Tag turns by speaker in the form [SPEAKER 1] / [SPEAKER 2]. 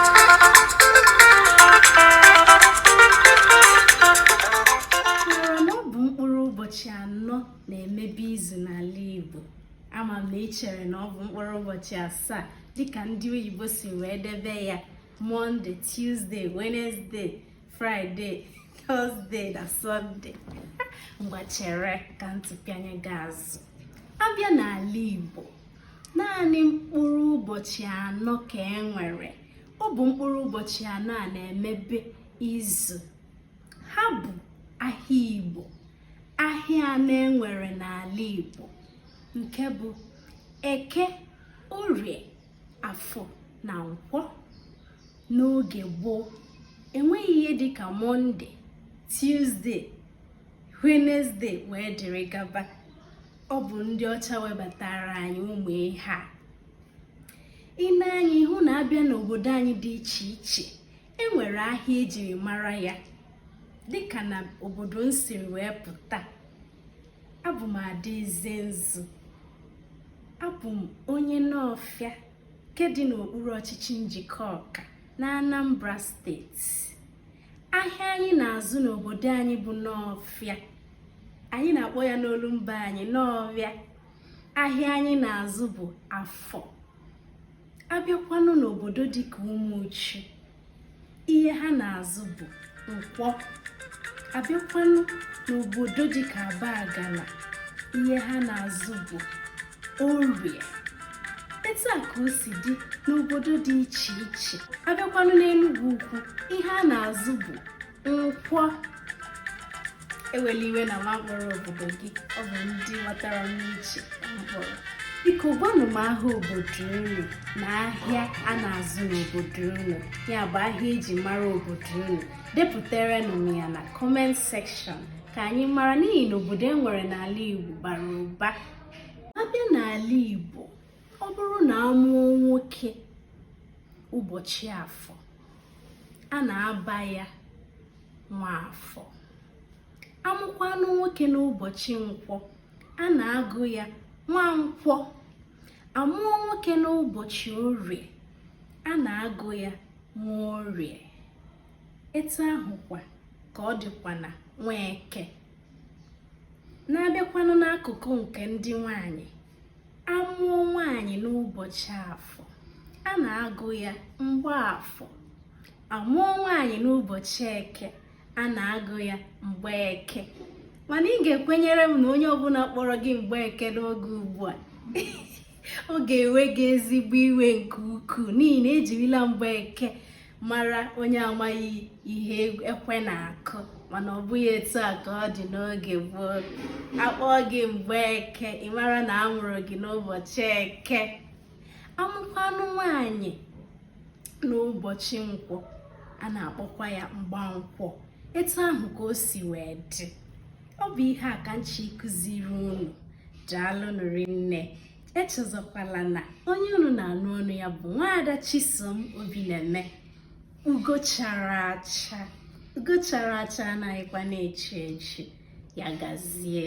[SPEAKER 1] mara na ọ bụ mkpụrụ ụbọchị anọ na-emebe izu n'ala Igbo ama m na ị chere na ọ bụ mkpụrụ ụbọchị asaa dịka ndị oyibo si wee debe ya mọnde tuzdee wenezdee fraịde tọzdee na sọnde ngwa chere ka m tụpịanye gị azụ abịa n'ala igbo naanị mkpụrụ ụbọchị anọ ka e nwere ọ bụ mkpụrụ ụbọchị anọ a na-emebe izu ha bụ ahịa igbo ahịa anọ e nwere n'ala igbo nke bụ eke orie afọ na nkwọ n'oge gboo enweghị ihe dịka mọnde tuzdee wenezdee wee dịrị gaba ọ bụ ndị ọcha webatara anyị ụmụ ihe a i nee anya ị hụ na abịa n'obodo anyị dị iche iche e nwere ahịa ejiri mara ya dịka na obodo m siri wee pụta abụ m adaeze nzu abụ m onye nọfịa nke dị n'okpuru ọchịchị njikọka na anambra steeti ahịa anyị na-azụ n'obodo anyị bụ nọfịa anyị na-akpọ ya n'olumba anyị nọvịa ahịa anyị na-azụ bụ afọ abịakwanụ n'obodo dịka ụmụchu ihe ha na-azụ bụ nkwọ abịakwanụ n'obodo dịka abagana ihe ha na-azụ bụ orie etu a ka o si dị n'obodo dị iche iche abịakwanụ n'Enugwu ukwu ihe a na-azụ bụ nkwọ ewela iwe na mụ akpọrọ obodo gị ọ bụ ndị batara n'uche m kpọrọ biko gwanụ m aha obodo unu na ahịa a na-azụ n'obodo unu ya bụ ahịa eji mara obodo unu depụtaranụ m ya na comment section ka anyị mara n'ihi na obodo e nwere n'ala Igbo bara ụba abịa n'ala Igbo ọ bụrụ na a mụọ nwoke ụbọchị afọ a na-aba ya nwafọ amụkwanụ nwoke n'ụbọchị nkwọ a na-agụ ya nwankwọ amụọ nwoke n'ụbọchị orie a na-agụ ya nworie etu ahụkwa ka ọ dịkwa na nweke na abịakwanụ n'akụkụ nke ndị nwanyị amụọ nwanyị n'ụbọchị afọ a na-agụ ya mgbafọ amụọ nwanyị n'ụbọchị eke a na-agụ ya mgbeke mana ị ga-ekwenyere m na onye ọbụla kpọrọ gị mgbeke n'oge ugbu a ọ ga-ewe gị ezigbo iwe nke ukwuu n'ihi na ejirila Mgbeke mara onye amaghị ihe ekwe na-akụ mana ọ bụghị etu a ka ọ dị n'oge gboo akpọọ gị Mgbeke ị mara na a mụrụ gị n'ụbọchị eke amụkwanụ nwanyị n'ụbọchị nkwọ a na-akpọkwa ya Mgbankwọ etu ahụ ka o si wee dị ọ bụ ihe a ka m chọ ịkụziri unu daalụnụ rinne echezọkwala na onye unu na-anụ ọnụ ya bụ nwaada Chisom Obineme ugo chara acha ugo chara acha anaghịkwa na-echi echi ya gazie